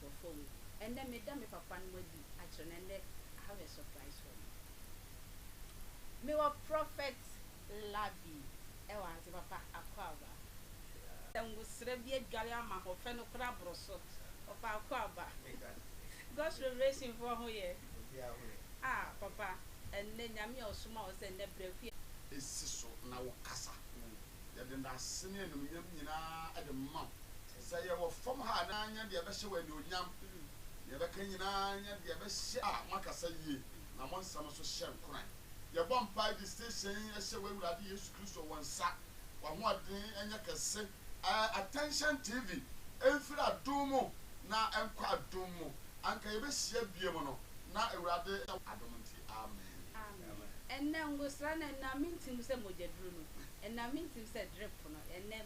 wɔ fam. Ɛnnɛ meda me papanom adi akyerɛ no ɛnnɛ I have a surprise for you mewɔ prophet Labi ɛwɔ ase papa Akwaaba sɛ ngosra bi adware ama ho fɛ no koraa boro so papa Akwaaba God's revelation foɔ ho yɛ ah papa ɛnnɛ Nyame a ɔsoma wo sɛ ɛnnɛ brɛ fie si so na wo kasa yɛde ndase ne animuonyam nyinaa de ma wo. Sɛ yɛwɔ fam ha a, na nyɛ deɛ ɛbɛhyɛ wo anuonyam. Deɛ ɛbɛka nyinaa, nyɛ deɛ ɛbɛhyɛ a moakasa yie na mo nsɛm nso hyɛ nkuran. Yɛbɔ mpae de siesie yɛn hyɛ w'Awurade Yesu Kristo wɔ nsa. W'ahoɔden nyɛ kɛse. Ɛɛ Attention TV, ɛmfiri adom mu na ɛnkɔ adom mu. Anka yɛbɛhyia biom no, na Awurade yɛ. Adom nti, amen. Amen. Ɛnam ngosra no, ɛnam me ntim sɛ mogyaduro no, ɛnam me ntim sɛ drip no, ɛnam.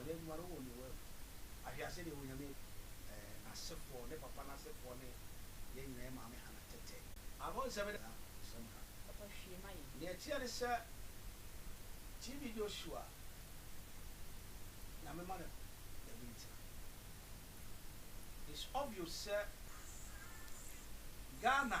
Nyame adwuma no wɔ Noa mu. Ahwɛ a sɛdeɛ Onyame eh, n'asefoɔ, ne papa no asefoɔ ne yɛn nyinaa, yɛn maame Hana tɛtɛ. Abɔ nsɛm da nsɛm ka. Papa hwie ma yɛn. Nea ɛteɛ ne sɛ TV Joshua Nyame ma no baabi ntena. It's obvious sɛ Ghana.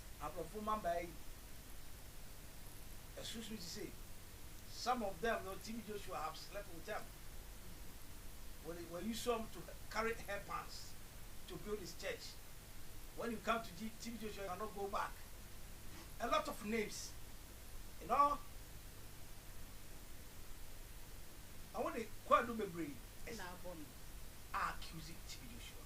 Abrɔfo mmabaa yi asusu te sɛ some of them no TB Joshua have slept with them wɔde wɔayi some to carry hair pans to build his church when you come to TB Joshua you cannot go back a lot of names you know wɔde kwaadu bebree na abɔ no a accuse TB Joshua.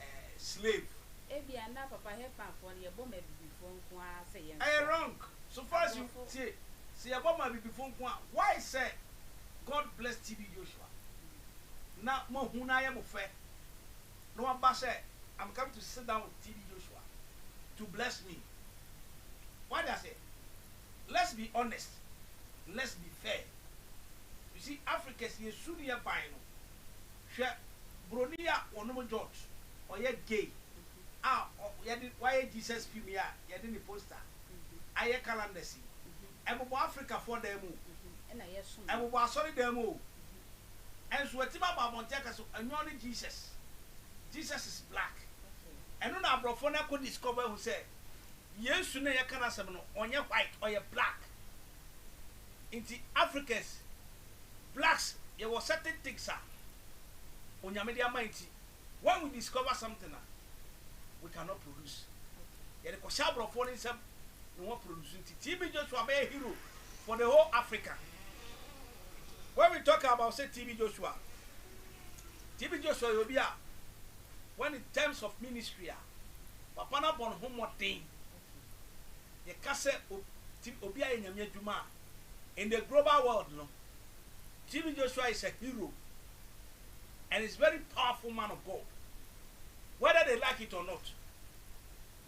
eh slave. Ebia na papa Hepan foɔ no yɛbɔ ma abibifoɔ nko ara sɛ yɛn kɔ. Ɛyɛ wrong so far as you tie sɛ yɛbɔ ma abibifoɔ nko a why sɛ God bless TB Joshua na mo ahu no ayɛ mo fɛ na waba sɛ I'm coming to sit down with TB Joshua to bless me wate aseɛ let's be honest let's be fair you see Africans yɛ su no yɛ ban no Hwɛ broni a wɔnom jot ɔyɛ gay a yɛde wayɛ Jesus fim yi a yɛde ne poster ayɛ calendars yi. Ɛbobɔ Africa foɔ dan mu o, ɛbobɔ asɔre dan mu o, ɛnso watumi abɔ abɔnten aka sɛ ɛnyɔɔ ne Jesus, Jesus is black. Ɛno na abrɔfoɔ no akɔ discover ahu sɛ Yesu no a yɛka n'asɛm no ɔnyɛ white ɔyɛ black. Nti Africans blacks yɛwɔ certain things a Onyame de ama yɛn nti when we discover something a we cannot produce yɛde kɔhyɛ aborɔfoɔ no nsam na wɔn produce nti TB Joshua bɛyɛ hero for the whole Africa when we talk about say TB Joshua TB Joshua yɛ obi a when in terms of ministry a papa no abɔ ne ho mmɔden yɛka sɛ obi obi ayɛ Nyame adwuma a, in the global world no, TB Joshua is a hero and is very powerful man of God whether they like it or not.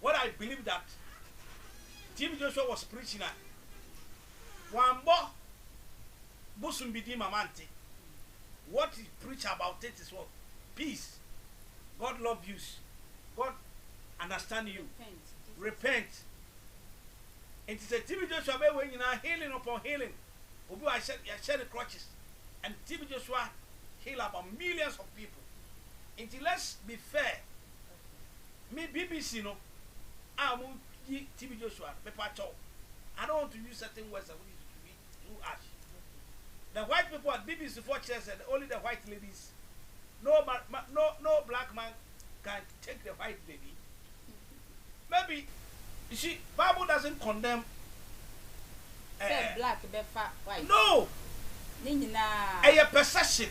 What I believe that TB Joshua was preaching a wambɔ bosom bi din ma mante. What he preach about it is what? Peace. God love you. God understand you. repent nti sɛ TB Joshua bɛyɛ wei nyinaa healing upon healing obi wɔ ha yɛahyɛ no crutches and TB Joshua heal about millions of people nti let's be fair me BBC no a wɔyi TB Joshua no mepatɔ I don't want to use certain words a wɔde tutu bi through ash fufu the white people a BBC foɔ kyerɛ sɛ the only the white ladies no ma ma no no black man can take the white lady maybe she bible doesn't condemn sɛ eh, black bɛfa white no ne nyinaa. ɛyɛ perception.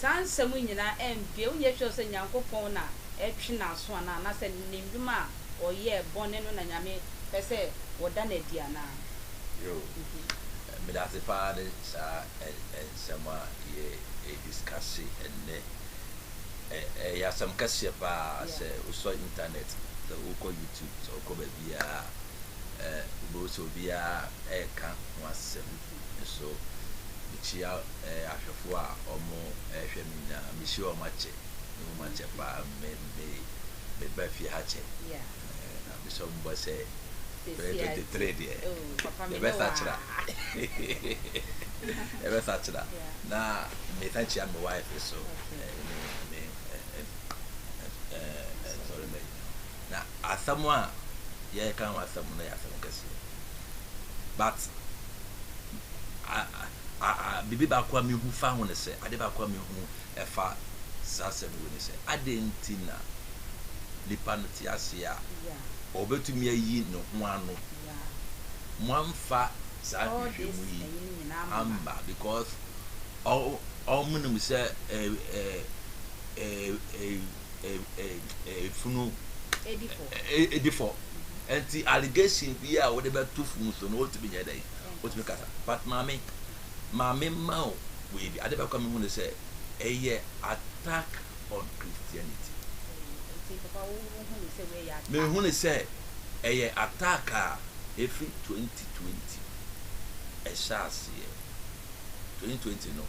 Saa nsɛm yi nyinaa ɛmmbue, wonyɛ sure sɛ Nyankopɔn na ɛtwe n'aso anaa, anasɛ ne ndwuma a ɔyɛɛ, bɔne no na Nyame pɛ sɛ wɔda no adi anaa. Yoo, medase paa ne saa nsɛm a yɛ discusse ɛnnɛ. Ɛyɛ asɛm kɛseɛ paa sɛ wosɔ internet, sɛ wokɔ YouTube, sɛ wokɔ baabiara a, wobɛhu sɛ obiara ɛɛka ho asɛm. nso mekyia ahwɛfoɔ a wɔhwɛ me nyinaa mehyia wɔn akyɛ ne wɔn akyɛ paa me me meba fie ha kyɛ na mesɔ mo bɔ sɛ bɛyɛ twenty three deɛ yɛbɛsa kyera yɛbɛsa kyera na mesan kyia me wife so ne me nsɔre ma nyinaa na asɛm a yɛreka ho asɛm no yɛ asɛm kɛseɛ but biribi baako a mehu fa ho ne sɛ ade baako a mehu ɛfa saa asɛm wei ne sɛ adɛn nti na nipa no te aseɛ a ɔbɛtumi ayi ne ho ano moamfa saa hwehwɛ mu yi amba because ɔmo nim sɛ ɛɛ ɛɛ ɛɛ efunu edi fɔ nti allegation bi a wɔde bɛto funu so no otumi nyɛ dɛ otumi kasa but maame maame ma o wei bi ade bɛkɔ mi hu ne sɛ ɛyɛ attack on christianity mehu ne sɛ ɛyɛ attack a efiri twenty twenty ɛhyɛ aseɛ. twenty twenty no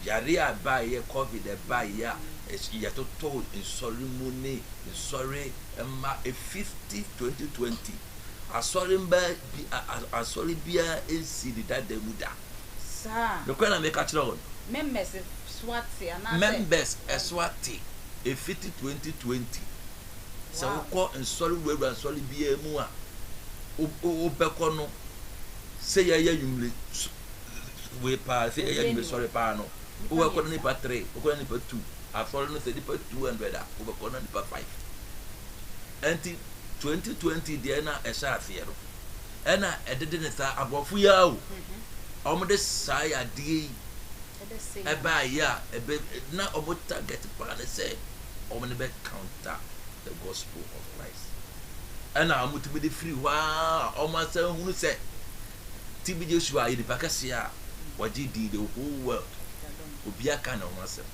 yare a ɛbaeɛ covid ɛbaeɛ a yɛtotoo nsɔre mu ne nsɔre mma fifty twenty twenty asɔre mma bi asɔre biara nsi ne dada mu da. saa nokorɛ na meka kyerɛ wɔn. members ɛso ate anaasɛ members ɛso ate efiti twenty twenty. sɛ wokɔ nsɔre wurawura nsɔre biara mu a wobɛkɔ no sɛ yɛyɛ nwumire wei paa sɛ yɛyɛ nwumire sɔre paa no wobɛkɔ no nipa three wobɛkɔ no nipa two asɔre no sɛ nipa two hundred a wobɛkɔ no nipa five ɛnti twenty twenty deɛ na ɛhyɛ aseɛ no ɛna ɛdede ne saa aborɔfo yi a o wɔn de saa yadeɛ yi ɛbaa yɛ a ɛbɛ na wɔn target paa ne sɛ wɔn ne bɛ counter the gospel of Christ ɛna wɔn tumi de firi hɔ a wɔn asan hunu sɛ TB Joshua yɛ nipa kɛseɛ a wɔgye di the whole world obi aka ne ho asɛm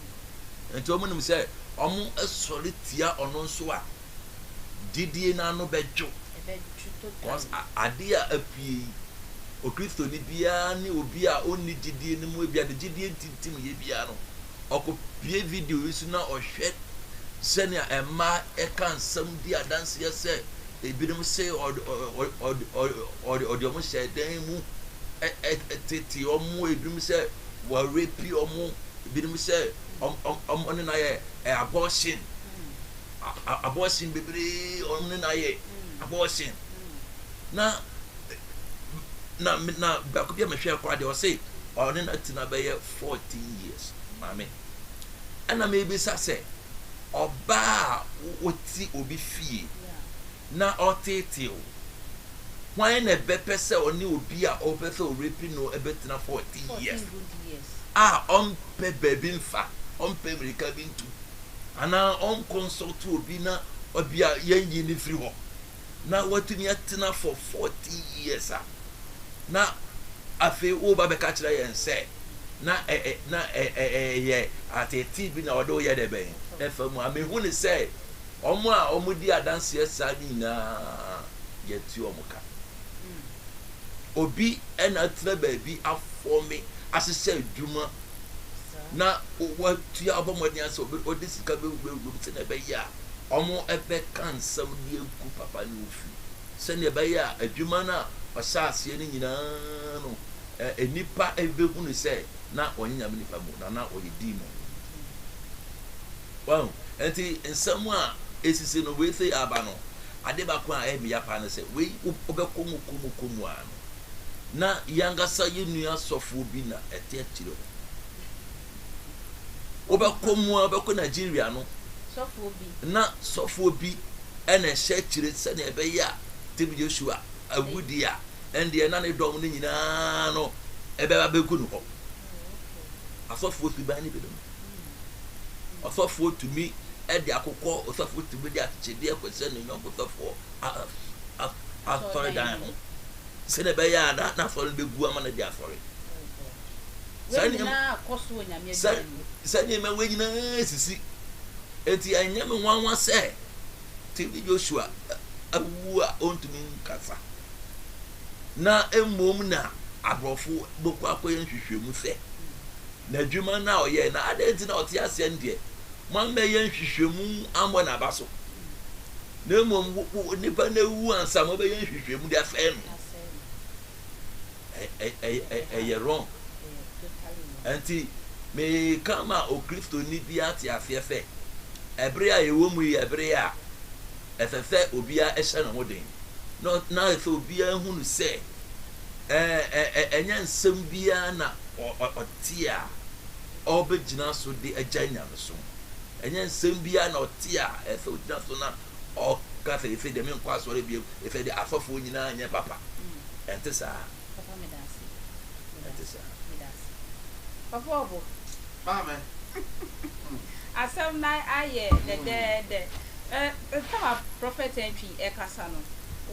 nti wɔn nim sɛ wɔn asɔre tia ɔno nso a gyidie n'ano bɛdwo. Cos ade a apue yi, Okristoni biara ne obi a onni gyidie no mu ebia ne gyidie ntintim yɛ biara no, ɔkɔpue video yi so na ɔhwɛ sɛnea mmaa ɛka nsɛm di adanseɛ sɛ ebinom se ɔde wɔn hyɛ dan mu tete wɔn ebinom sɛ wɔrepi wɔn ebinom sɛ wɔn ne no ayɛ abortion. abortion bebree ɔno ne na yɛ abortion na na na baako bi a mehwɛ akora deɛ ɔse ɔne na tena bɛyɛ fourteen years maame ɛna mebisa sɛ ɔbaa a wɔti obi fie. Yeah. na ɔreteetee wo. Hwan na ɛbɛpɛ sɛ ɔne obi a ɔpɛ sɛ ɔrepi no bɛtena fourteen years a ɔmpɛ baabi mfa, ɔmpɛ mmirika bi ntu, anaa ɔnkɔnsɔlto obi na ebia yɛnyi no firi hɔ, na watumi atena for fourteen years a, na afei woreba abɛka kyerɛ yɛn sɛ na ɛɛ na ɛɛ ɛyɛ ateetee bi na ɔde woyɛ dɛ bɛn ɛfa mu a, mehu ne sɛ Wɔn a wɔdi adanseɛ saa no nyinaa, yɛte wɔn ka. Obi na atena baabi afɔme, ahyehyɛ adwuma, na watua abɔ mmɔden sɛ ɔde sika bɛwurawura mu sɛdeɛ ɛbɛyɛ a wɔbɛka nsɛm de agu papa ne wo fi sɛdeɛ ɛbɛyɛ a adwuma no a ɔhyɛ aseɛ no nyinaa no nnipa bɛhunu sɛ na ɔnyɛ nyame nipa mu na na ɔyɛ demon Wahu? Enti nsɛm a esisi no weefei aba no, ade baako a ɛyɛ me ya paa ne sɛ, wei wobɛkɔ mu kɔ mu kɔ mu ara no, na yɛn ankasa yɛn nua sɔfoɔ bi na ɛte akyire hɔ. Wobɛkɔ mu ara, wobɛkɔ Nigeria no, na sɔfoɔ bi ɛna ɛhyɛ akyire sɛdeɛ ɛbɛyɛ a tɛbi Joshua awudie a ɛndeɛ na ne dɔm no nyinaa no ɛbɛba bɛgu no hɔ. Asɔfoɔ suban no binom. Ɔsɔfoɔ tumi de akokɔ, ɔsɔfoɔ tumi de akyekyedeɛ kɔhyɛ ne yɔnko sɔfoɔ asɔredan ho sɛdeɛ ɛbɛyɛ a na n'asɔre no bɛgu ama no de asɔre sɛ nneɛma wei nyinaa sisi enti ɛnyɛ me nwanwa sɛ tv joshua awuwu a ɔntumi nkasa na mmom na aborɔfo bɛkɔ akɔyɛ nhwehwɛmu sɛ n'adwuma no a ɔyɛe no adɛn nti na ɔte aseɛ no deɛ moammɛyɛ nhwehwɛmu ammɔ n'aba so na mmom nnipa no awu ansa mobɛyɛ nhwehwɛmu de asɛe no ɛyɛ wrong nti meka ma okristoni bi ate aseɛ sɛ ɛbere a yɛwɔ mu yi ɛbere a ɛsɛ sɛ obiara hyɛ ne ho den, na na ɛsɛ sɛ obiara hu no sɛ ɛnyɛ nsɛm biara na ɔte a ɔbɛgyina so de agyae nyamesom. Ɛnyɛ nsɛm biara na ɔte a ɛsɛ sɛ ɔgyina so na ɔka sɛ ɛsɛ deɛ menkɔ asɔre biom, ɛsɛ deɛ asɔfoɔ nyinaa nyɛ papa. Ɛnte saa. Papa meda ase meda ase meda ase papa ɔbo. Maame. Asɛm no ayɛ dɛdɛɛdɛ ɛ tam a prɔfɛt Antwi ɛkasa no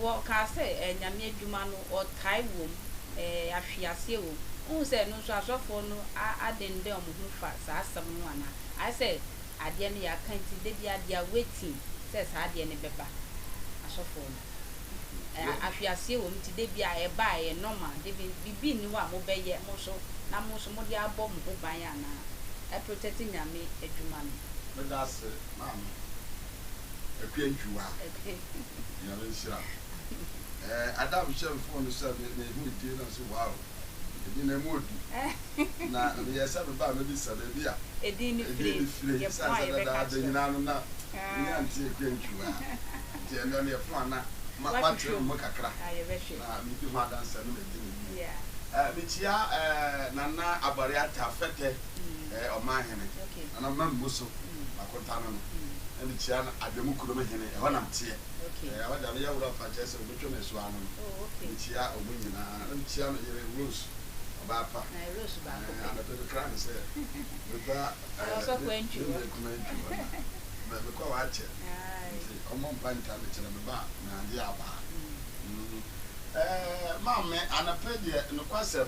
wɔ kaa sɛ ɛ Nyame adwuma no ɔtae wom ɛ ahwe aseɛ wom wohu sɛ ɛno nso asɔfoɔ no a adendɛn wɔn ho fa saa asɛm no ho anaa ayɛ sɛ adeɛ no yɛ aka nti da biara they are waiting sɛ saa adeɛ no bɛba asɔfoɔ no. Ɛ ahweaseɛ wɔ mu nti da biara ɛba a ɛyɛ normal de bi biribi nni hɔ a mobɛyɛ mo nso na mo nso mode abɔ mo ho ban anaa ɛ protect Nyame adwuma no. Meda ase maame Akua Njuwa. Nyame nhyira wo. Ɛɛ Adam hyɛ me phone sɛ me me ho edie na me se wow. Ɛgyina mu odi. Na meyɛ sɛ meba a mɛbisa baabi a ɛdin no fire. Ɛsiane sɛ dada da nyinaa no na menya nteɛ kwentu a, nti ɛnnɛ no yɛfo ana matwetwe me ho kakra na medi ho adanseɛ na magye no wie. Mekyia Nana Abare Atta Fɛtɛ, Ɔmanhene, Nana Mammu So, Makontane no, na mekyia Adwamu Kurom Hene, ɛhɔ na meteɛ. Ɛhɔ deɛ ano yɛ woro afa kyerɛ sɛ wɔbɛtwa me asu ano no. Mekyia wɔn nyinaa. Ankyia me yere Rose ɔbaa pa. Ɛɛ anɔpɛ me kra no sɛ meba ɛɛ me me nua kuma ntwi hɔ na mɛ me kɔ wakyɛ nti ɔmo mpa ntaa me kyerɛ me ba na ade abaa mm ɛɛ maa me anɔpɛ deɛ nokwasɛm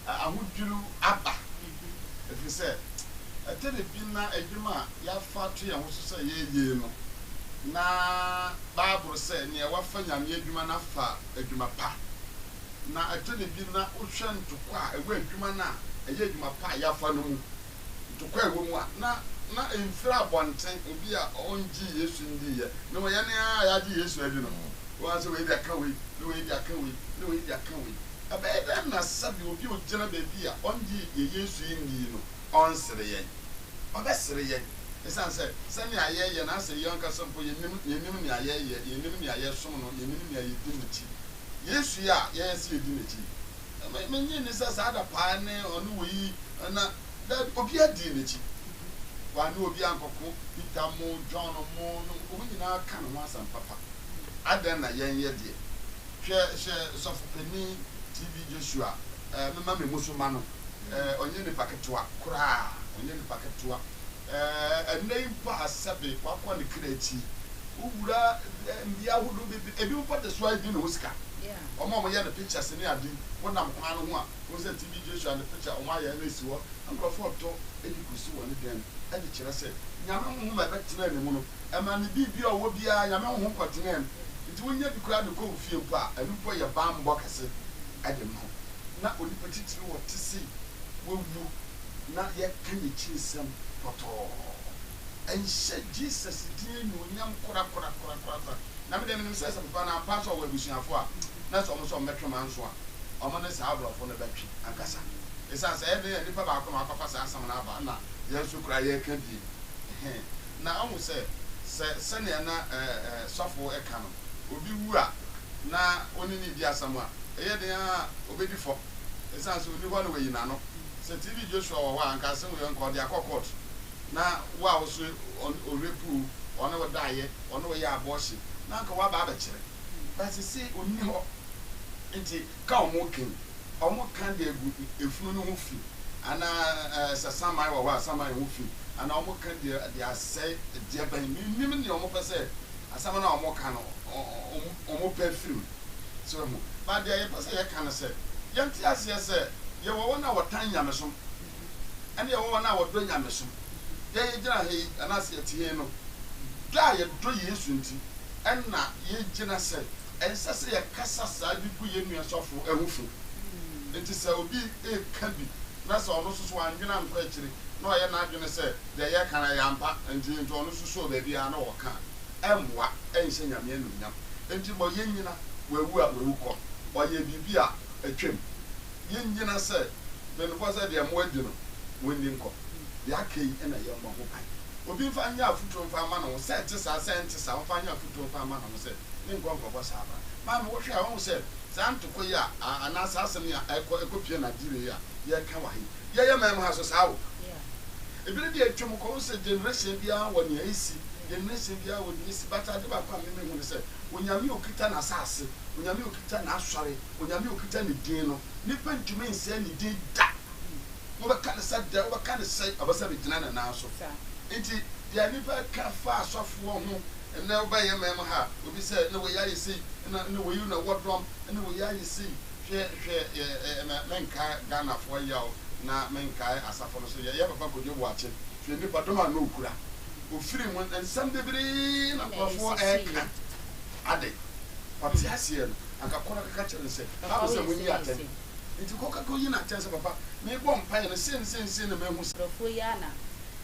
ahodwiriw aba ɛfiri sɛ ɛtɛ ne bi na adwuma a yafa ato yɛn ho so sɛ yɛyei no na baaboro sɛ nea wafa nyame adwuma no afa adwuma pa. Na ɛtɔ da bi na wohwɛ ntokwa a ɛwɔ adwuma no a ɛyɛ adwuma pa a yɛafa no mu, ntokwa a ɛwɔ mu a na na emfiri abɔnten, obi a ɔngyee Yesu ndiiɛ, na wɔ yɛn a yɛagye Yesu adi no, woahu sɛ wei de aka wei, na wei de aka wei, na wei de aka wei. Ɛbɛyɛ dɛn na sɛdeɛ obi a ogyina baabi a ɔngyee yɛn Yesu yi ndii no, ɔnsere yɛn. Ɔbɛsere yɛn esiane sɛ sɛnea yɛyɛ na sɛ yɛn ankasa mpo yenim, yenim nea yɛyɛ, yenim nea yɛsom no, yenim nea yedi n'akyi. Yesu yi a yɛyɛ sɛ yedi n'akyi yi, me, minnye nni sɛ saa da paa ne ɔne wɔ yi na, dabi, obiara dii n'akyi. Wɔanne obiara ankɔko. Peter mo, John mo, no, wɔn nyinaa ka ne ho asɛm papa. Adɛn na yɛnyɛ deɛ? Hwɛ, hyɛ Sɔfo Panin TB. Joshua, eh, memma me mu so mma no. Eh, ɔnyɛ nipa ketewa koraa, ɔnyɛ nipa ketewa. Eh, ɛnnɛ yi mpo a sɛbe wakɔ ne kra akyi, wowura eh, mmea ahodoɔ bebree, ebi mpo de soa ebi ne ho sika. Wɔn a wɔyɛ ne pictures ne ade yi, wonam kwan no ho a, wohu sɛ TB Joshua ne picture wɔn ayɛ na esi hɔ. Nkurɔfoɔ tɔ de kɔsi wɔ ne dan mu de kyerɛ sɛ Nyame honhom a ɛbɛtenaa ne mu no, ɛmaa ne biribi a ɔwɔ biara, Nyame honhom kɔtenaa mu. Nti wonya bi koraa de kɔ wo fie mpo a, ɛno mpo yɛ bammɔ kɛse. de ma wo. Ná onipa titiriw a ɔte sei wawu na yɛka n'akyi nsɛm pɔtɔɔ. Ɛnhyɛ Jesus din anuonyam korakorakorakora. Na me deɛ menim sɛ sɛ papa no ampa sɛ ɔwɔ abusuafo a, na sɛ wɔn sɛ wɔbɛtwe wɔn anso a, wɔn ne saa aborɔfo no bɛtwe ankasa. Esiane sɛ ɛyɛ den a nipa baako na wakɔfa saa asɛm no aba na yɛn nso koraa yɛreka die, ɛhe! na ahu sɛ, sɛ sɛnea na sɔfo ka no, obi wu a na ɔne no redi asɛm a, ɛyɛ den ara a obedi fɔ. Esiane sɛ onni hɔ na wayi n'ano. Sɛ TB Joshua wɔ hɔ a, anka asɛm wei anka ɔde akɔ kɔɔto. Ná wo a wo so ɔrepu wo, ɔne wo daeɛ, ɔne wo yɛɛ abɔɔhye, na anka woaba abɛkyerɛ. But seesei onni hɔ, enti ka wɔn ken, wɔn ka de agu efunu no ho fi, anaa sɛ saman wɔ hɔ a, saman ho fi, anaa wɔn ka de de asɛe deɛ bɛn, mennim deɛ wɔn pɛ sɛ, asɛm no a wɔn ka no, wɔn wɔn pɛ firi mu. So wahu? But deɛ yɛpɛ sɛ yɛka ne sɛ, yɛnte aseɛ sɛ, yɛwɔ wɔn a wɔtan nyamesom, ɛna yɛwɔ wɔn a wɔdɔ nyamesom. Deɛ yɛgyina ha yi, anaasɛ yɛte ha yi no, dɔ a yɛdɔ Yesu nti, ɛna yɛgyina sɛ Ɛnsɛ sɛ yɛkasa saa de gu yɛn nua sɔfo ho fi. Enti sɛ obi reka bi na sɛ ɔno nso so wannwen ankɔ akyiri na ɔyɛ n'adwene sɛ deɛ yɛreka no yɛ ampa nti nti ɔno nso sɔɔ baabi ara na ɔka a, ɛmmoa, ɛnhyɛ Nyame anuonyam. Enti ma yɛnnyina wawu a wawu kɔ. Ɔyɛɛ biribi a atwam. Yɛnnyina sɛ mmenomfoɔ sɛ deɛ moadi no, monni nkɔ. Deɛ aka yi na yɛmmɔ ho ban. Obi mfa nyɛ afotuo mfa mma ne ho sɛ ɛte saa sɛ ɛnte saa, ɔmfa nyɛ afotuo mfa mma ne ho sɛ. ne nkɔnkɔn bɔ saa bra. Maame, wohwɛ a, wohu sɛ saa ntoko yi a, a, anaa saa asɛm yi a ɛkɔ, ɛkɔpue no adeɛ wei a yɛreka wɔ ha yi, yɛyɛ man mu ha nso saa o. Ebire bi a atwam kɔ, wohu sɛ generation biara wɔ nea ɛsi, generation biara wɔ nea ɛsi, but ade baako a me mehu ne sɛ, Onyame a ɔkita N'asase, Onyame a ɔkita N'Asɔre, Onyame a ɔkita Ne din no, nnipa ntumi nsɛe Ne din da. Wobɛka no sɛ dɛn, wobɛka no sɛn, ɛwɔ sɛ bɛgyina ne nan so. Enti deɛ nnipa ka fa asɔfoɔ ho Ɛnnɛ wo ba yɛ mɛɛm ha obi sɛ na wei ayɛ sei na na wei na wɔ dɔm na wei ayɛ sei hwɛ hwɛ yɛ ɛ mɛ mɛnkaɛ Ghana foɔ yaw na mɛnkaɛ asafo no so yɛ yɛ papa Kojo Boakye hwɛ nipa dɔm a na ɔkura ofiri mu nsɛm bebree na nkorɔfoɔ ɛɛka ade ɔte aseɛ no anka kɔ na kɔka kyerɛ no sɛ Bible sɛ mo nyi atɛn nti kɔ kɔ yi no atɛn sɛ papa me bɔ mpaeɛ no sei ne sei ne sei na mahu sɛ. Nkorɔfoɔ yi a na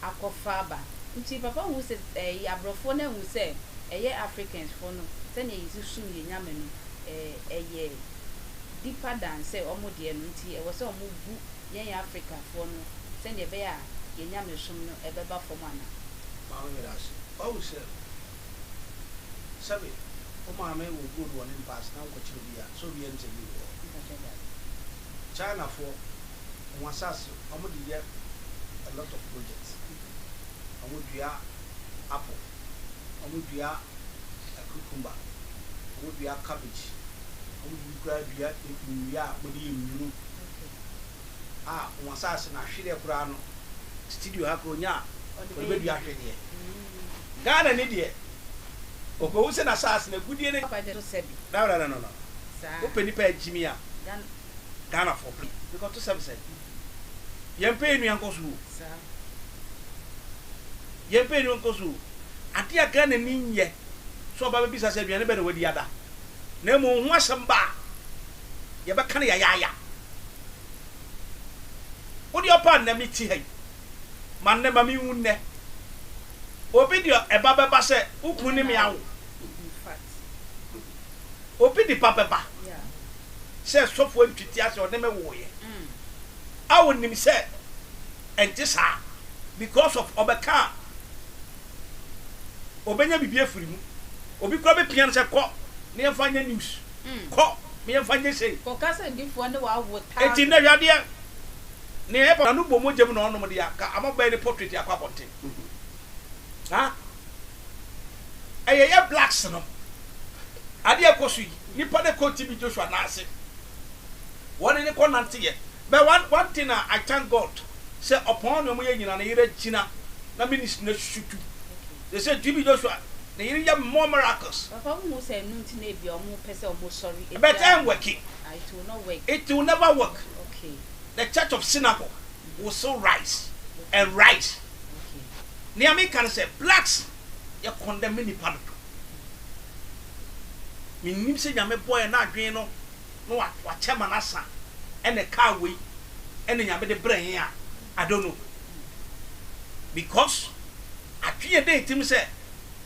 akɔfa aba. Nkyii papa hu sɛ ɛɛ yɛ abrɔfoɔ na hu sɛ ɛyɛ Africans foɔ no sɛdeɛ yɛsi som yɛ Nyame no ɛɛ ɛyɛ deeper than sɛ ɔmo deɛ no nti ɛwɔ sɛ ɔmo bu yɛn Africa foɔ no sɛdeɛ ɛbɛyɛ a yɛ Nyamesom no ɛbɛba fɔm ana. Maame meda ase wahu sɛ sɛbe wo maame wɔ gold wɔ ne mpa ase na wonkɔkyerɛ obiaa sɛ obiaa nte bi wɔ hɔ China foɔ wɔn asase ɔmo de yɛ a lot of project ɔmo dua apple ɔmo dua cucumber ɔmo dua cabbage ɔmo de bi koraa dua nnua a wɔde yɛ nnuro a wɔn asaase no ahwedeɛ koraa no studio ha koraa onya a wɔde bɛdua ahwedeɛ Ghana ni deɛ ɔkɔhu sɛ n'asaase no agudie ne no no no no no wopɛ nipa agyimi a Ghana foɔ pɛ. Because to sɛm sɛ yɛn pɛ yɛn nua nkɔ so o. Yɛn pɛ yɛn nua nkɔ so o. Adeɛ a Ghana ni nyɛ sɛ ɔba bɛbisa sɛ aduane bɛn na wadi ada. Na mmom ho asɛm ba a yɛbɛka no yayaaya. Wo deɛ ɔpa nnɛ me te ha yi. Ma nnɛ ma me wu nnɛ. Obi deɛ ɛba bɛba sɛ wo kunu ne me awo. Obi nipa bɛba sɛ sɔfo antwitia sɛ ɔne me woeɛ a ɔnim sɛ ɛnte saa because of ɔbɛka a ɔbɛnya biribi afiri mu. Obi koraa bɛpia no sɛ kɔ na yɛmfa nyɛ news, kɔ na yɛmfa nyɛ sei. Enti nnɛ hwɛ adeɛ, nea ɛyɛ papa no bɔ mogya mu na ɔnom de aka ama bɛyɛ ne portrait akɔ abɔnten. ɛyɛ yɛ blacks no ade a ɛkɔ so yi nipa na ɛkɔ TB Joshua nan ase wɔn ne ne kɔ nante yɛ but one one thing a I thank God sɛ ɔpɔn ne wɔn yɛ nyina ne yere gyina na ministry na susu tu they say TB Joshua ne yere yɛ more miracles. Papa wo hu sɛ ɛno nti na ebia wɔn pɛ sɛ wɔn sɔre ebia but ɛn work it will not work it will never work okay the church of synagogue will still rise and rise. Nea meka ne sɛ blacks yɛ condemn me nipa dodo. Mennim sɛ Nyame bɔɔ yɛn n'adwene no na wakyɛ ma no asa ɛna ɛkaa wei ɛna Nyame de brɛ yɛn a I don't know because atwe yɛn dɛn tirim sɛ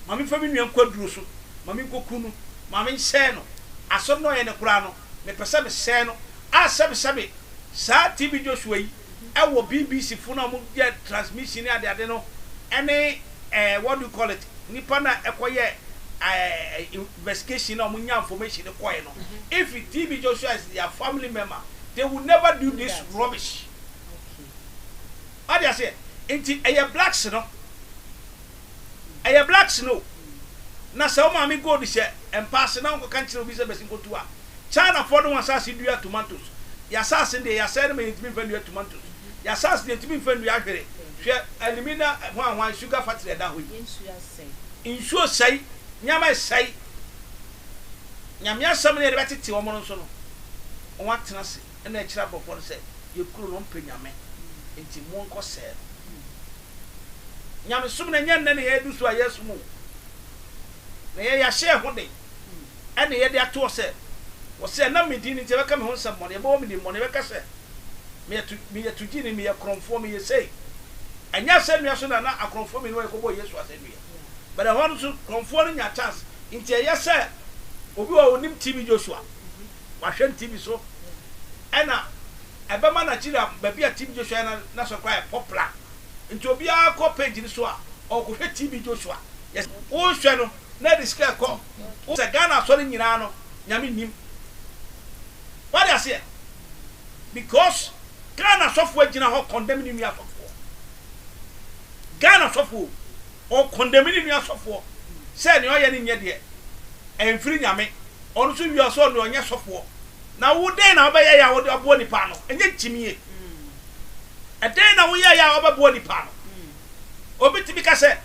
ma me mfa me nua nkɔ aduro so ma me nkɔ ku no ma me nsɛe no asɔre no a ɔyɛ no koraa no mepɛ sɛ mesɛe no a sɛbesɛbe saa TV Joshua yi ɛwɔ BBC fo no a ɔmo yɛ transmission ne adeade no ɛne ɛɛ what do you call it nipa no a ɛkɔ yɛ ɛɛ investigation no a ɔmo nya information no kɔɛ no if TB Joshua is their family member they will never do this rubbish wate aseɛ nti ɛyɛ blacks no. Ɛyɛ black snow. Na sɛ wo maame gold hyɛ mpa ase na ɔnkɔka nkyerɛ obi sɛ bɛsi nkɔtu a, China foɔ de wɔn asase dua tomatoes. Yɛ asase no deɛ yɛasɛe no ma yɛntumi mfa nnua tomatoes. Yɛ asase deɛ yɛntumi mfa nnua hwere. Hwɛ alumina hwan hwan sugar factory a ɛda hɔ yi. Nsuo sɛe, nneɛma ɛsɛe. Nyame asɛm no yɛde bɛtete wɔn no nso no, wɔn atena ase na ɛkyerɛ aborɔfoɔ no sɛ yɛn kuro no ɔmpɛ Nyame nti monkɔsɛe no. Nyamesom no ɛnyɛ nnɛ na yɛadu so a yɛresom o, na ɛyɛ yɛahyɛ yɛn ho den na yɛde ato hɔ sɛ, Wɔse ɛnam me din nti ɛbɛka me ho nsɛmmɔne, ɛbɛbɔ me dimmɔne, ɛbɛka sɛ meyɛ to, meyɛ togyeni, meyɛ korɔmfoɔ, meyɛ sei. Ɛnyɛ asɛnnua so na na akorɔmfoɔ mmienu a yɛkɔbɔɔ Yesu asɛnnua, but ɛhɔ no nso korɔmfoɔ no nyaa chance. Nti ɛyɛ sɛ obi wɔ hɔ a ɔnim TB Joshua, wahwɛ no TV so, ɛna ɛbɛma Nigeria baabi a TB Joshua yɛ no na sɔre koraa ayɛ popular. Nti obiara kɔ page no so a ɔrekɔhwɛ TB Joshua. Yes, wohwɛ no na ɛde sika ɛkɔ. Wohu sɛ Ghana asɔre nyinaa no Nyame nnim. Wate aseɛ? Because Ghana asɔfoɔ agyina hɔ condemn ne nua asɔfoɔ. Ghana asɔfoɔ o, ɔcondemn ne nua asɔfoɔ sɛ nea ɔyɛ no nyɛ deɛ ɛmfiri Nyame. Ɔno nso wie a ɔsɛ ɔno deɛ ɔnyɛ sɔfoɔ. Na wo dɛn na wobɛyɛe a wode aboa nnipa ano? Ɛnyɛ gyimie. Ɛdɛn na woyɛeɛ a wobɛboa nnipa ano? Obi tumi ka sɛ,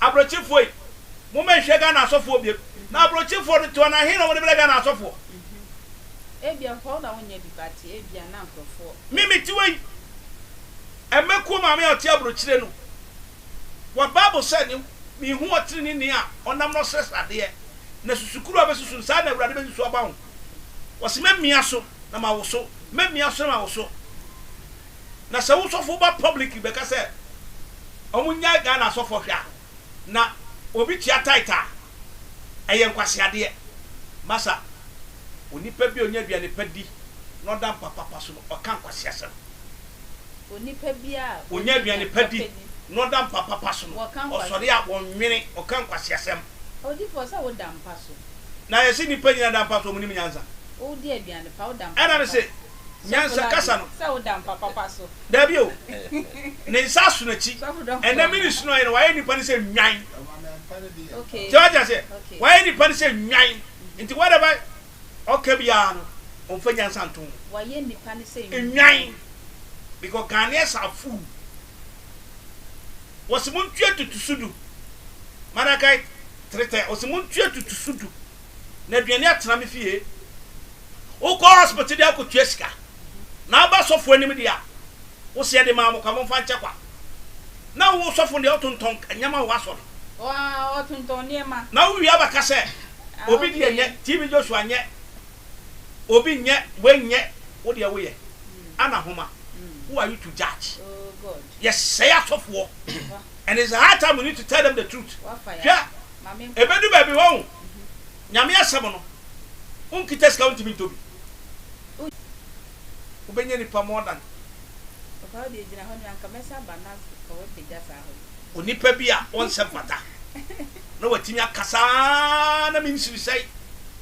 Abrɔkyefoɔ yi, momma yɛnhwɛ Ghana asɔfoɔ biom. Na abrɔkyefoɔ no to anaa he na wɔde brɛ Ghana asɔfoɔ? Ebia hɔ na wonyɛ bi but ebia na nkurɔfoɔ. Me mete hɔ yi, mmɛkuo maame a ɔte aburokyire no wɔ Bible sɛ ne Mehu ɔteneneeni a ɔnam no srɛsrɛ adeɛ, na susukuru a bɛsusu no, saa na Awurade bɛsusu aba ho. Ɔse, Mɛmia so na mawoso, mɛmia so na mawoso. Na sɛ wo sɔfo ba publicly bɛka sɛ ɔmo nyae Ghana asɔfoɔ hwɛ a, na obi tua tithe a, ɛyɛ nkwaseadeɛ. Masa, onipa bi a ɔnya aduane pa di na ɔda mpa papa so no, ɔka nkwaseasɛm. Onipa bi a ɔnya aduane pa di na ɔda mpa papa so no, ɔsɔre a, ɔnwene, ɔka nkwaseasɛm. Odifoɔ, sɛ woda mpa so Na yɛse nnipa nyina da mpa so ɔmo nim nyansa. Wo di aduane pa wo da mpa papa so. Ɛna mese nyansa kasa no. Sɛ wo da mpa papa so. Daabi o. Ne nsa aso n'akyi. Ɛnɛ me ne sunu ayɛ no wayɛ nnipa no sɛ nnwan. So wate aseɛ? Wayɛ nnipa no sɛ nnwan. Nti whatever ɔka biara no ɔmfa nyansa nto ho. Wayɛ nnipa no sɛ nnwan. Nnwan. Because Ghanaians are fool. Wɔse montua tutusu du, Maragait Tretɛ, ɔse montua tutusu du na aduane atena me fie. Wokɔ hospital de akɔtua sika na woba sɔfo anim deɛ a, wose yɛde maa mo kwa, momfa nkyɛ kwa. Na wo sɔfo no deɛ ɔtontɔn nneɛma wɔ w'asɔre. Ɔtontɔn nneɛma. Na wowie abɛka sɛ obi deɛ nyɛ, TB Joshua nyɛ, Obi nyɛ wei nyɛ wo deɛ woyɛ ana homa who are you to judge yɛsɛe asɔfoɔ and it's high time we need to tell them the truth hwɛ ɛbɛdu baabi wahu nyame asɛm no wonkita sika wontimi ntɔ bi wobɛnya nipa more than onipa bi a ɔnsɛ mfata na watumi akasa na mensiri sɛe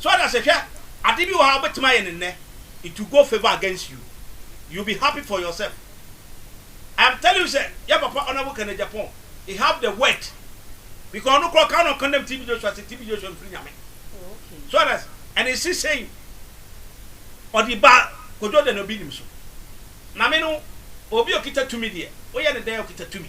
So ate ase? Hwɛ, ade bi wɔ ha a wobɛtumi ayɛ no nnɛ, it will go favour against you, you will be happy for yourself. I am telling you sɛ, yɛ papa Honourable Kenneth Agyapong, he have the word, because ɔno koraa ɔkaa na ɔcondemn TB Joshua sɛ TB Joshua mfiri Nyame. So ate ase? And he still saying, ɔde ba Kojo Daniel Binnim so. Maame no, obi a ɔkita tumi deɛ, woyɛ no dɛn a ɔkita tumi?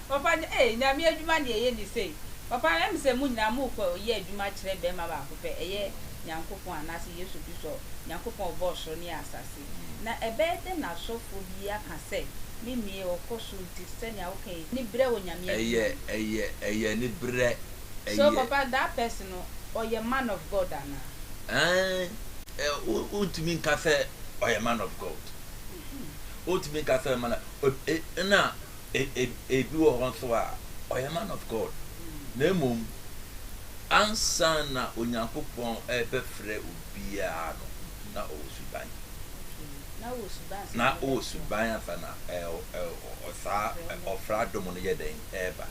Papa no, Ei, Nyame adwuma deɛ yɛ ni sei. Papa no, Ɛm sɛ mo nyinaa mo kɔ yɛ adwuma kyerɛ bɛɛma baako pɛ, ɛyɛ Nyankopɔn anaasɛ Yesu Kristo, Nyankopɔn a ɔbɔɔ soro ne asase. Na ɛbɛyɛ dɛn na asɔfoɔ bi aka sɛ, Me mmie, ɔkɔ soro nti sɛnea woka yi, ni berɛ wɔ Nyame Ɛyɛ, adwuma mu. ɛyɛ, ɛyɛ ni berɛ, So ɛyɛ. papa that person no, ɔyɛ man of God anaa? Ɛɛn, ɛ, wo, wontumi nka sɛ ɔyɛ man of God. Wontumi nka sɛ ɔyɛ man of, ɛ, ɛ, ɛna. e e ebi wɔ hɔ nso a, ɔyɛ man of God, na mmom ansa na Onyankopɔn rebɛfrɛ obiara no, na ɔwɔ suban. Na ɔwɔ suban ansa na ɔwɔ suban ansa na ɛɛ saa ɔfrɛ adom no yɛ dɛn ɛreba.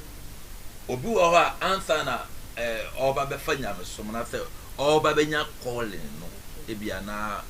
Obi wɔ hɔ a, ansa na ɛɛ ɔreba bɛfa nyamesom no, ansa ɔreba bɛnya calling no, ebia na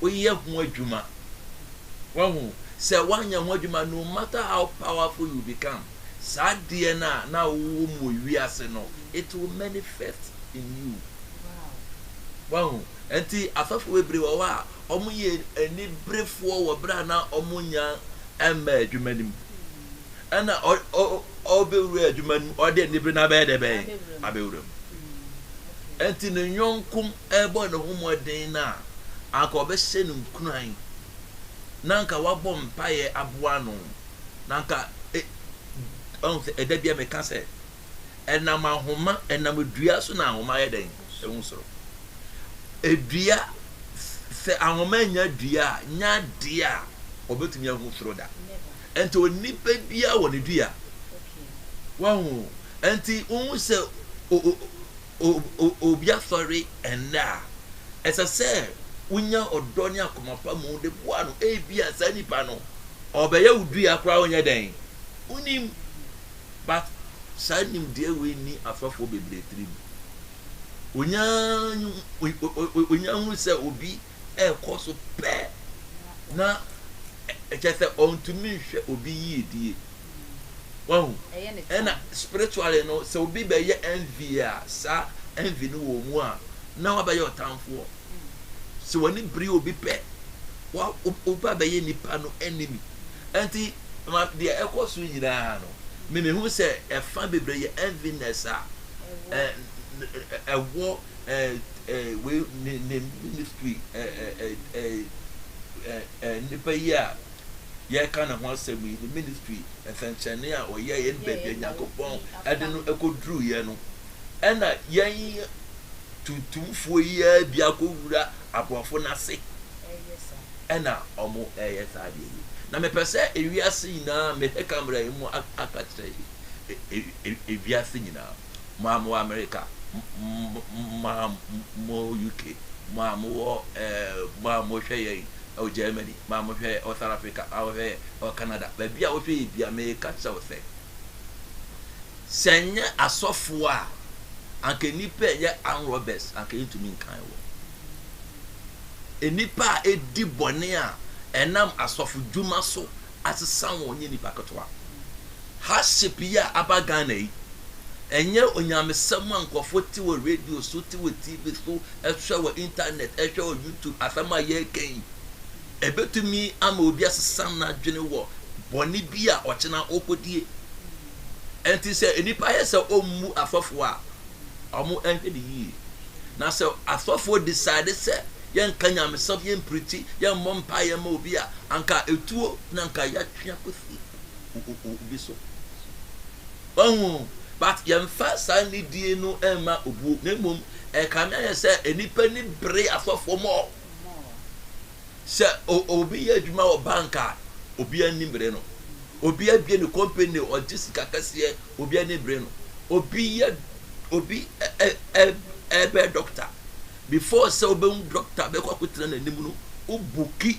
woyɛ ho adwuma. Wahu? Sɛ woanyɛ ho adwuma, no matter how powerful you become, saa adeɛ no a na wowɔ mu wɔ wiase no, it will manifest in you. Wahu? Nti afɛfoɔ bebree wɔ hɔ a wɔyɛ aniberefoɔ wɔ berɛ a na wɔnya mmaa adwuma no mu. Ɛna ɔbɛwura adwuma no mu, ɔde anibere no abɛyɛ dɛ bɛn? Abɛwura mu. Nti ne yɔnko rebɔ ne ho mmɔden no a, anka wɔbɛhyɛ no nkuran, na anka wɔabɔ mpaeɛ aboa no, na anka e, ɔhu sɛ ɛda bia meka sɛ, ɛnam ahoma, ɛnam dua so na ahoma yɛ dɛn? Ɛhu soro. Edua, sɛ ahoma nya dua a, nya adeɛ a wɔbɛtumi ahu soro da. Ɛnti onipa biara wɔ ne dua. Wahu? Ɛnti wohu sɛ obi asɔre nnɛ a, ɛsɛ sɛ wunya ɔdɔ ne akoma pa mu de boa no. Ebia saa nipa no, ɔbɛyɛ wo dua koraa wonyɛ dɛn? Wunnim. But saa nimdeɛ wei nni asɔfoɔ bebree tirim. Wonya hunu sɛ obi ɛrekɔ so pɛ na kyerɛ sɛ ɔntumi nhwɛ obi yiedie. Wahu? Ɛna spiritually no, sɛ obi bɛyɛ envy a, saa envy no wɔ mu a, na wabɛyɛ ɔtamfoɔ. Sɛ w'ani bere obi pɛ, wa oba bɛyɛ nipa no enemy. Ɛnti ma deɛ ɛkɔ so nyinaa no, me mehu sɛ ɛfa bebree yɛ enviness a ɛwɔ wei ne ne ministry nipa yi a. yɛreka ne ho asɛm yi, ne ministry nsɛnkyerɛnne a ɔyɛeɛ ne baabi a Nyankopɔn de no kɔduruiɛ no, ɛna yɛn tuntumfoɔ yi ara bi akɔwura aborɔfo no ase ɛna ɔmo ɛyɛ saa adeɛ yi na mepɛ sɛ ewiase nyinaa mehwɛ kamera yi mu aka kyerɛ yi e, e, e, ewiase nyinaa mo a mowɔ amerika mo a mowɔ uk mo a mowɔ ɛɛ mo a mohwɛ yɛn ɛwɔ germany ma mo hwɛ ɔ South Africa a ɔhwɛ ɔ Canada baabi a ɔhwɛ yɛ bia meka kyerɛ wo sɛ sɛ nyɛ asɔfo a anka nipa ɛyɛ arm robbers anka yɛntumi nkan wɔ nipa a ɛdi bɔne a ɛnam asɔfo dwuma so asesa wɔn nyɛ nipa ketewa Hardship yi a aba Ghana yi, ɛnyɛ onyamesɛm a nkurɔfoɔ te wɔ radio so, te wɔ TV so, hwɛ wɔ internet, hwɛ wɔ YouTube, asɛm a yɛreka yi, ɛbɛtumi ama obi asesa n'adwene wɔ bɔne bi a ɔkyena ɔkɔdie. Ɛnti sɛ nnipa yɛ sɛ ɔmmu asɔfoɔ a, wɔn ɛnhwɛ ne yie. Na sɛ asɔfoɔ decide sɛ yɛnka nyamesɛm, yɛmpirikyi, yɛmmɔ mpaeɛ ma obi a, anka ɛtuo na anka yɛatwe akɔsi. obi so. Wahu? But yɛmfa saa nidie no mma obuo, na mmom ɛkame ayɛ sɛ nnipa ni bere asɔfoɔ mɔ. Sɛ obi yɛ adwuma wɔ bank a, obi ani bere no. Obi abie ne company, ɔgye sika kɛseɛ, obi ani bere no. Obi yɛ obi ɛbɛ doctor. Before sɛ wobɛhu doctor bɛkɔ akɔtena n'anim no, wobuki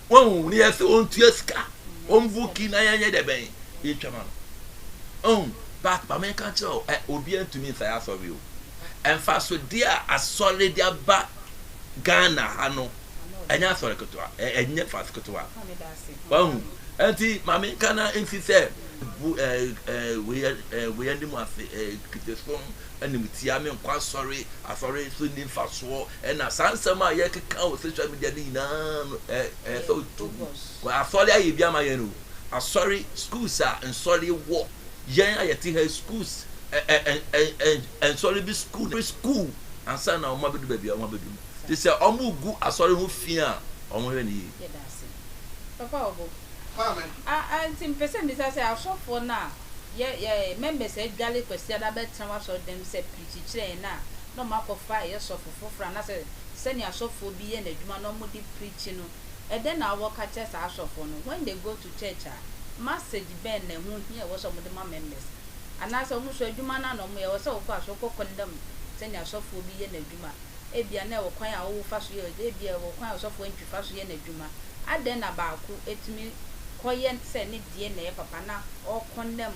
Wahu ne yɛ sɛ ɔntua sika ɔmbu ki na yɛnyɛ dɛ bɛn yɛtwa ma no ɔhu but ma menka kyerɛ o ɛ obiara ntumi nsa yɛ asɔre o mfasodeɛ a asɔre de aba Ghana ha no ɛnyɛ asɔre ketewa ɛnyɛ mfaso ketewa wahu nti ma menka na nsi sɛ bu ɛ ɛ wei ɛ wei anim ase ɛ kitesom anim tia menkɔ asɔre asɔre so nni mfasoɔ Ɛna saa nsɛm a yɛkeka wɔ social media no nyinaa no ɛyɛ sɛ otu kɔ asɔre ayɛ bi ama yɛn o asɔre schools a nsɔre wɔ yɛn a yɛte ha schools nsɔre bi school na school ansa na wɔn abɛdu baabi a wɔn abɛdu no te sɛ wɔn gu asɔre ho fi a wɔn hwɛ ne yie. Papa ɔbo a a nti mpɛ sɛ mbisa sɛ asɔfoɔ no a yɛ yɛ members adwale Kwasiada bɛtena w'asɔre dɛm sɛ pirikyi kyerɛ yɛn a na ɔmo akɔfa ɛyɛ sɔfo foforɔ anasɛ sɛnea asɔfoɔ bi yɛ n'adwuma na ɔmo de preachi no ɛdɛn na wowɔ ka kyerɛ saa asɔfoɔ no when they go to church a massage bɛn na ɛho hia ɛwɔ sɛ ɔmo de ma members anaasɛ ɔmo nso adwuma no ara na ɔmo yɛ ɛwɔ sɛ wokɔ a so wokɔ condemn sɛnea asɔfoɔ bi yɛ n'adwuma ebia na ɛwɔ kwan a wowo fa so yɛ ebia ɛwɔ kwan a ɔsɔfoɔ antwi fa so yɛ n'adwuma adɛn na baako tumi kɔyɛ sɛ ne deɛ na ɛyɛ papa na ɔ condemn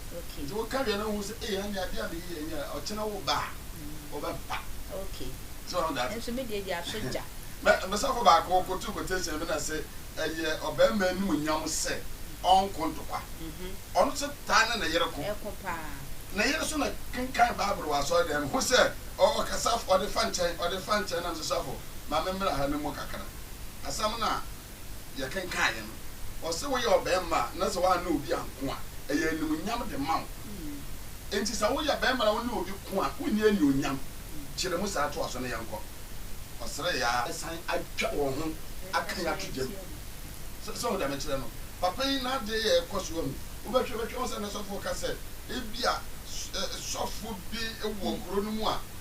Nti wo ka wie na wohu sɛ ee ɛnneɛ adeɛ a meyi yɛ nyɛ ɔkyena wo ba a ɔbɛ pa. Okay. So ɔho that. Nso me deɛ deɛ aso gya. Me me sɔfo baako ɔkɔ tu quotation bi na se ɛyɛ ɔbɛɛma anim nyam sɛ ɔnko ntokwa. Ɔno nso taa ne ne yere ko. Ɛko paa. Ne yere nso na kenkan bible wɔ asɔre dan mu hu sɛ ɔ ɔkasa ɔde fa nkyɛn ɔde fa nkyɛn na me se sɔfo ma me mmra ha no mu kakra. Asɛm no a yɛkenkaeɛ no, ɔse woyɛ ɔbarima a na sɛ woanne obi anko a, ɛyɛ animuonyam de ma wo. Enti sɛ woyɛ barima na wone obi ko a, wonni anuonyam? Kyerɛ mu saa, toa so na yɛnkɔ. Ɔseree ara. Asan atwa wɔn ho akan ato gya mu. Sɛ, sɛ wohu deɛ mekyerɛ no, papa yi n'adeɛ yɛ rekɔ so ahu. Wobɛhwɛ, wobɛhwɛ, wohu sɛ ne sɔfoɔ ka sɛ, Ebia sɔfoɔ bi wɔ kuro no mu a,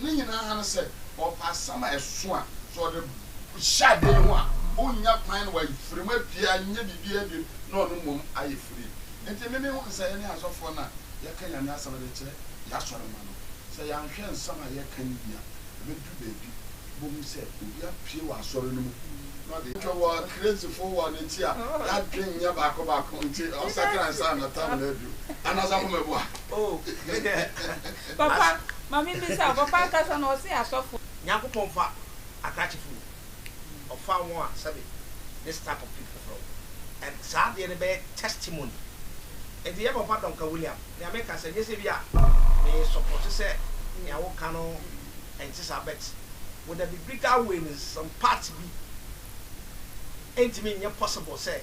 Ne nyinaa ara ne sɛ, ɔpɛ asɛm a ɛso a, sɛ ɔde hyɛ ade yi ho a, onnya kwan na wafiri mu apue anyɛ biribiara bio na ɔno mmom ayɛ free. Enti me mehu no sɛ yɛne asɔfoɔ no a yɛka Nyame asɛm de kyerɛ y'asɔremma no, sɛ yɛanhwɛ nsɛm a yɛka no yie a, ɛbɛduru baabi wobɛhu sɛ obi apue wɔ asɔre no mu na ɔde yɛn wɔ crazyfoɔ wɔ ne ti a n'adwene nyɛ baako baako nti ɔnsakra ansa na tam no aduru. Anaa Asafo Meboa? Oh. Papa, ma mimmisa wo, papa ankasa no, ɔse asɔfoɔ. Nyankopɔn mfa akrakye firi wo ho, ɔfa wɔn a sɛbe this type of people frɛ wo, and saa adeɛ no bɛyɛ testimony. Nti yɛ papa Duncan William, nea meka sɛ, nyɛ sɛ bi a me sɔpɔte sɛ nea wo ka no nte saa, but wo the biblical way no some parts bi ntumi nyɛ possible sɛ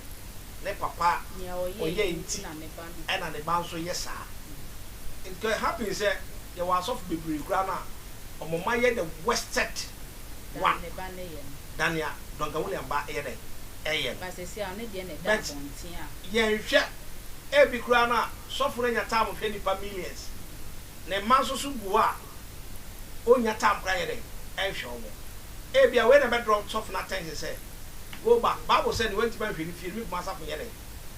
ne papa ɔyɛɛ nti ɛna ne ba nso yɛ saa. It can happen sɛ yɛwɔ asɔfo bebree koraa no a, wɔn mma yɛ the worsted one Than ne ba no yɛ no. than nea Duncan Williams ba yɛ dɛn? yɛ no. But seesei a ɔno deɛ na ɛda But abɔnten a. yɛnhwɛ, ebi koraa no a sɔfo no anya time hwɛ nnipa millions. Ne mma nso so gu hɔ a, onnya time koraa nyɛ dɛn? nhwɛ wɔn. Ebia wei na ɛbɛdraw sɔfo no attention sɛ, Go back, Bible sɛ nea wantumi anhwɛ ne fie no, me koma asafo nyɛ dɛn?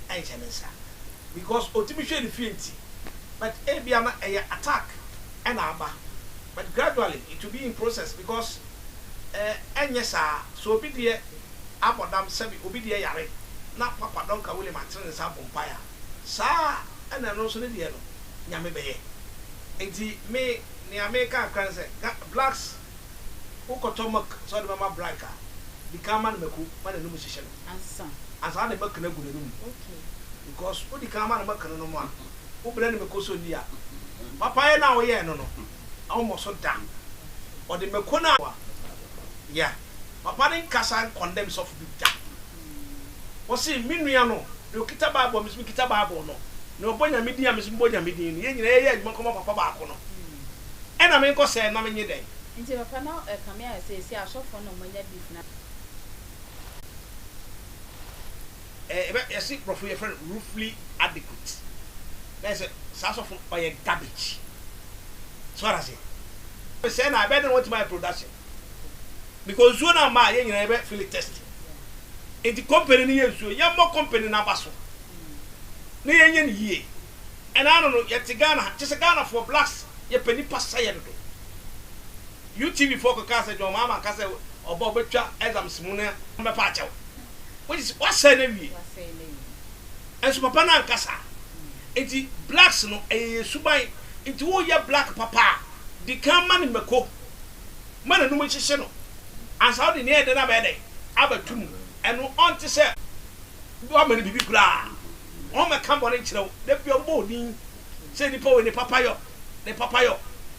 ɛnhyɛ ne nsa because ɔtumi hwɛ ne fie nti but ebia na ɛyɛ attack ɛna aba but gradually it will be in process because eh ɛnyɛ saa so obi deɛ abɔ dam sɛbi obi deɛ yare na papa Duncan William atene ne nsa abɔ mpaeɛ a saa ɛna ɛno nso ne deɛ no Nyame bɛyɛ nti me nea me ka kakra ne sɛ Ga blacks wo kɔtɔ milk sɛ wode bɛma black a dikan ma no mako ma n'anum hyehye no. ansa. Ansa ne mɛkene agu n'anom. Okay. Because wodi kan ma no mɛkene no mo a, wobrɛ no mako so nni a, papayɛ no a woyɛɛ no no, ɔmmɔ so da. Ɔde mako no a. Yeah. Papa no nkasa nkɔndɛm sɔfo bi da. Ɔse, me nua no, nea okita Bible a me nso mekita Bible no, nea ɔbɔ Nyame din a me nso mebɔ Nyame din no, yɛn nyinaa yɛyɛ adwuma nkɔma papa baako no. Ɛna menkɔ sɛɛ no na menye dɛn? Nti papa no ɛkame ayɛ sɛ seesei asɔfo no wɔanya beef na. ɛɛ ɛbɛ yɛsi borɔfo yɛfrɛ no ruefully adequate na yɛ sɛ saa sɔfo ɔyɛ garbage so ara se sɛ na ɛbɛ de wɔn ti ma yɛ production because nsuo na ama yɛ nyinaa yɛbɛ fili test nti company no yɛ nsuo yɛ mmɔ company no aba so na yɛ nyɛ ne yie ɛna ano no yɛ te Ghana kyɛ sɛ Ghana foɔ blacks yɛ pɛ nipa sa yɛ dodo. UTV foɔ kɔkaa sɛ John Mahama ka sɛ ɔba a ɔbɛtwa exams mu no bɛpa akyɛw. Which is wasɛe no awie. Nso papa no anka saa. Nti blacks no ɛyɛ yɛn suban. Nti woreyɛ black papa a, di kan ma no mako. Ma n'anum nhyehye no. Ansa wode nea ɛyɛ dɛ no abɛyɛ dɛn? Abɛto mu. Ɛno ɔnte sɛ woama no biribi koraa. Wɔmmɛka bɔne nkyerɛ wo. Da biara wɔbɛbɔ wo din sɛ nipa wei ne papayɔ, ne papayɔ.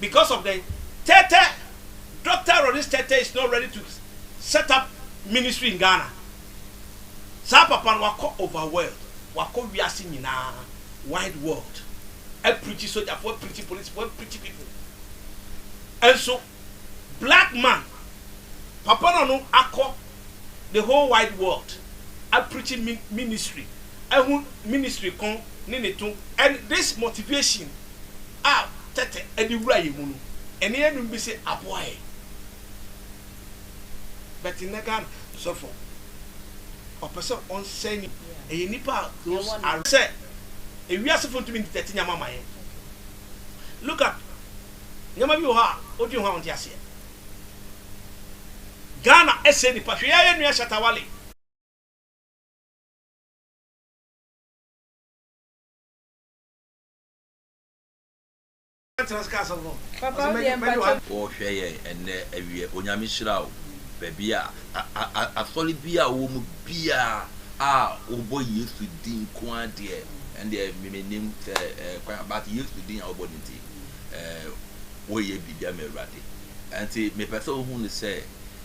because of the tɛtɛ Doctor Ronnie's tɛtɛ is not ready to set up ministry in Ghana saa papa no wakɔ over world wakɔ wiase nyinaa wide world apirikyi sojafoɔ apirikyi polisifoɔ apirikyi people ɛnso black man papa no no akɔ the whole wide world apirikyi ministry ɛho ministry ko ne ne to and this motivation a tɛtɛ de wura yɛn mu no, ɛne yɛn nom bi se aboa yɛn. But nnɛ Ghana sɔfo ɔpɛ sɛ ɔnsɛe ni ɛyɛ nipa a those are sɛ ewiasefo ntumi nte tɛte nyama ma yɛn. Look at nyama bi wɔ hɔ a wodwen ho a wonte aseɛ. Ghana ɛsɛe nipa hwɛ yɛn nua Shatta Wale. Wɔhwɛ yɛn ɛnnɛ awiɛ Onyame hyira wo baabi a asɔre bi a wowɔ mu biaa a wobɔ Yesu din nko ara deɛ ɛndeɛ mennim sɛ kwan a but Yesu din a wobɔ no nti woyɛ biribia ma Awurade ɛnti mepɛ sɛ wohu no sɛ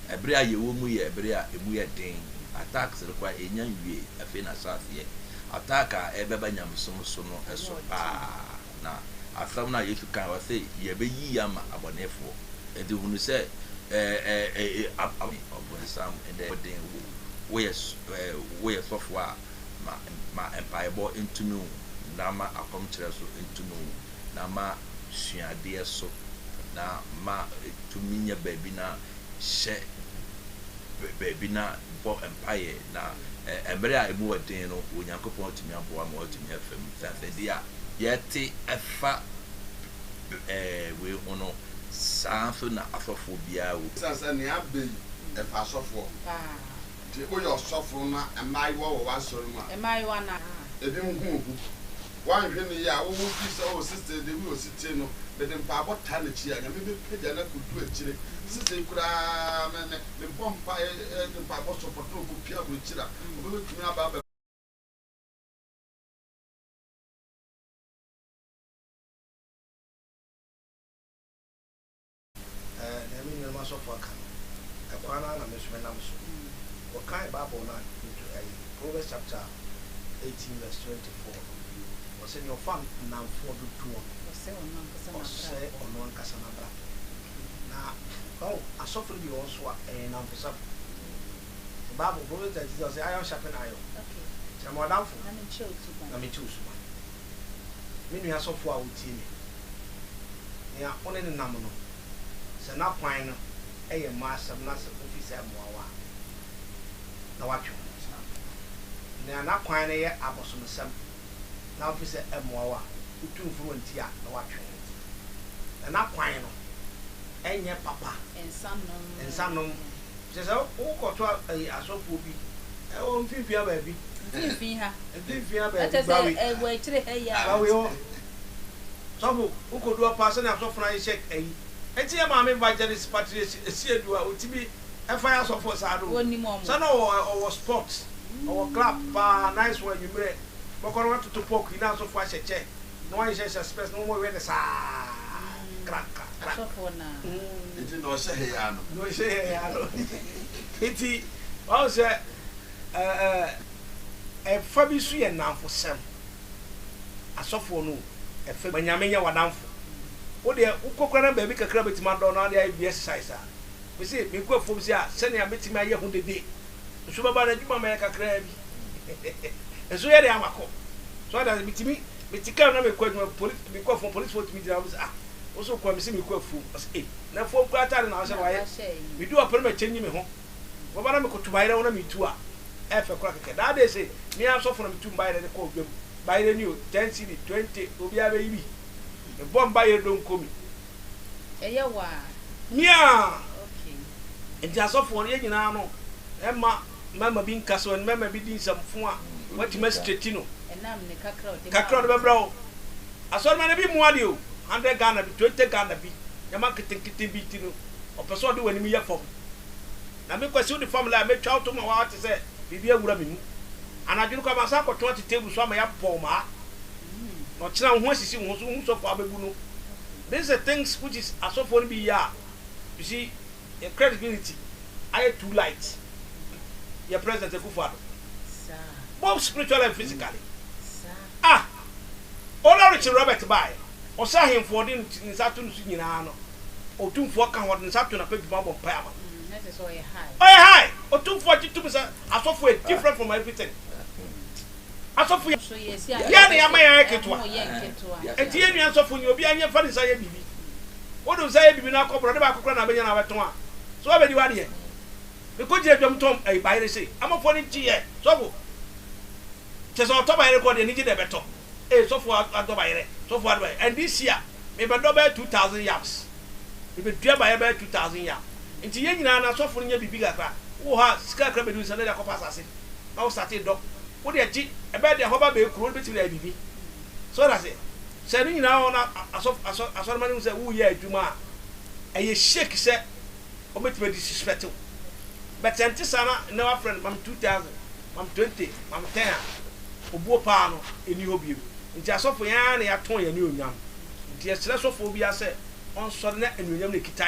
ɛberɛ a yɛwɔ mu yɛ ɛberɛ a ɛmu yɛ den attacks no koraa ɛnya nwie afei na ahyɛ aseɛ Attack a ɛbɛba nyamesom so no so paa na asɛm no a Yesu kae, ɔse yɛbɛyi ama abɔnefoɔ. Enti hunu sɛ ɔbonsam nnɛ ɛyɛ wo den wo woyɛ sɔfoɔ a ma mpaebɔ ntumi wo na ma akɔmkyerɛ so ntumi wo na ma suadeɛ so na ma tumi nya baabi na hyɛ baabi na bɔ mpaeɛ. Na mmere a emu yɛ den no, Onyankopɔn atumi aboa ma wɔatumi afa mu. Sɛ asɛdee a yɛte ɛfa wei ho no, saa nso na asɔfoɔ biara wɔ. Esiane sɛ nea aba yi ɛfa asɔfoɔ ho nti, woyɛ ɔsɔfo na mmaayewa wɔ w'asɔre mu a, ebinom hu wo hu. Woanhwɛ no yie a, wo ho fi sɛ, Oh, sista yi deɛ, woyɛ osetie no, mede mpaebɔ taa n'akyi a, Nyame bɛpagya no akɔdu akyire. Sista yi koraa, me, me. mebɔ mpae de mpaebɔ sɔ pɔtɔ na mopue aburokyiri a, wɔbɛbɛtumi aba abɛ. Ɛɛ, nea me nuanom asɔfo aka no, ɛkwan no ara na me nso menam so. Wɔkae Bible no anadwo to ɛyi, Proverbs chapter eighteen verse twenty four no, wɔse, Nea ɔfa nnamfoɔ dodoɔ no, ɔsɛe ɔno ankasa n'abrabɔ. Na wahu asɔfo no bi wɔ hɔ nso a ɛyɛ nnamfosɛm. The Bible, Proverbs thirty six, ɔsɛ iron sharpen iron. Kyerɛ me ɔdamfo na menkyɛ wo suban. Me nua asɔfo a wotie me, nea wo ne no nam no, sɛ n'akwan no yɛ mma asɛm na sɛ ofi sɛ mmoa wo a, na woatwe wo ho. Nea n'akwan no yɛ abosomsɛm. na mfe sɛ ɛmmoa wo a, wotu mforo nti a na woatwe ho nti. Na na kwan no nyɛ papa. Nsa nom. Kyerɛ sɛ wokɔto asɔfoɔ bi wɔ mfimfini ha baabi. Mfimfini ha. Mfimfini ha baabi. Kyerɛ sɛ wɔ akyire ha yi a. Bawe hɔ. Sɔfo, wokɔdu hɔ paa sɛdeɛ asɔfo no ayɛ hyɛ ayi. Nti yɛ maame Evangelist Patrice Asiedu a ɔtumi. ɛnfa yɛ asɔfoɔ saa no sɛ na ɔwɔ ɔwɔ spot ɔwɔ club paa nice one anwummerɛ bɛkɔ na watoto pork yi na asɔfoɔ ahyɛ kyɛ na wɔnhyehyɛ spɛs na wɔwɛ ne saa krak krak krak asɔfoɔ na nti na ɔhyɛ hɛ yaa no na ɔhyɛ hɛ yaa no nti wɔn sɛ ɛɛ ɛfa bi so yɛ nnamfo sɛm asɔfoɔ no ɛfɛ ma nyame nyɛ wadanfo wodeɛ wokɔkora na baabi kakra bɛtumi adɔ na ɔde ayɛ bi exercise a Mise, Megu afuom se a sɛnea metumi ayɛ ho dede nso bɛba no adwuma mɛyɛ kakraa bi nso yɛ dɛn awakɔ. So ate ase? Metumi mete kar mu na mekɔ adwuma, polis, mekɔ afuom, polisfoɔ tumi gyina hɔ mise, Ah, wo so kwan? Mise, Mekɔ afuom. Ɔse, Ei, na afuom koraa ataade na wahyɛ no wayɛ? Medu hɔ pɛ na makyɛngyi me ho, wɔba na mekoto bayerɛ ho na metu a, ɛyɛ fɛ koraa kɛkɛ. That day se me ara sɔfo na metu me bayerɛ de kɔɔ dwam, bayerɛ ni o, ten cedi, twenty, obiara bɛyi bi. Mebɔ me bayerɛ donko mi, Ɛyɛ wo a. Miaa! Okay. Nti asɔfoɔ no yɛn nyinaa no ɛmma mmarima bi nka so, mmarima bi di nsɛm fo a, watumi astraighten no. Ɛnam ne kakra a ɔde ma. Kakra a ɔde bɛbrɛ wo. Asɔremma no ebi mua deɛ o, hundred Ghana bi, twenty Ghana bi, nneɛma nketenkete bi nti no, ɔpɛ sɛ ɔde w'anim yɛ fam. Na me Kwasiw de fam la a metwa wo to ma woawa te sɛ biribi awura me mu. Anadwo no koraa masan akɔtɔn ate table so ama yɛabɔ wo maa. Na ɔkyena wo ho asisi wo ho so, wohu sɔfo a wobɛbu no. This is the things which is asɔfoɔ no bi yɛ a, you see, yɛn credibility ayɛ too light. Yɛn President Akufo-Addo, both spiritually and physically. Ah! Olorich Robert bae no, ɔsɛ ahemfo a ɔde ne nsa to no so nyinaa no otumfoɔ ka ho, ɔde ne nsa to n'apadwuma mu bɔ mpae ma wɔn. Ɔyɛ high otumfoɔ a ɔgye tom sɛ asɔfo yɛ different from everything. Asɔfo yɛn na yɛama yɛn ayɛ ketewa, enti yɛn nua nsɔfo nyɛ, obiara nyɛ mfa ne nsa nyɛ biribi. Wode wo nsa yɛ biribi na akɔ borɔde baako koraa na wobɛnya na wobɛtɔn a, so wabɛdi w'adeɛ? Mekɔgyina dwam tɔn ayi bayere se, Amanfoɔ no nkyeyɛ, sɔfo. Kyɛ sɛ ɔtɔ bayerɛ kɔ deɛ anigye na ɛbɛtɔ ee sɔfo adɔ bayerɛ sɔfo adɔ bayerɛ and this year me bɛ dɔ bɛyɛ two thousand yams me bɛ dua bayerɛ bɛyɛ two thousand yam nti yɛn nyinaa na sɔfo no nyɛ biribi kakra wo wɔ hɔ a sika kakra bɛdu nsa na de akɔ pa asase na wo sate dɔ wo deɛ gye ɛbɛyɛ deɛ hɔba bɛyɛ kuro no bɛtumi de ayɛ biribi so ɔda se sɛ ɛno nyinaa wɔ na asɔfo asɔ asɔrema no mu sɛ wo yɛ adwuma a ɛyɛ shake sɛ Wɔbɛtumi adisrespɛte wo but sɛ ɛnte saa na nnɛ woafrɛ no mam two thousand, mam twenty, mam ten a, obuo paa no nni hɔ biom. Nti asɔfo yɛn ara na yɛatɔn yɛn anuonyam. Nti yɛsrɛ sɔfoɔ biara sɛ ɔnsɔre na anuonyam no ɛkita yɛn.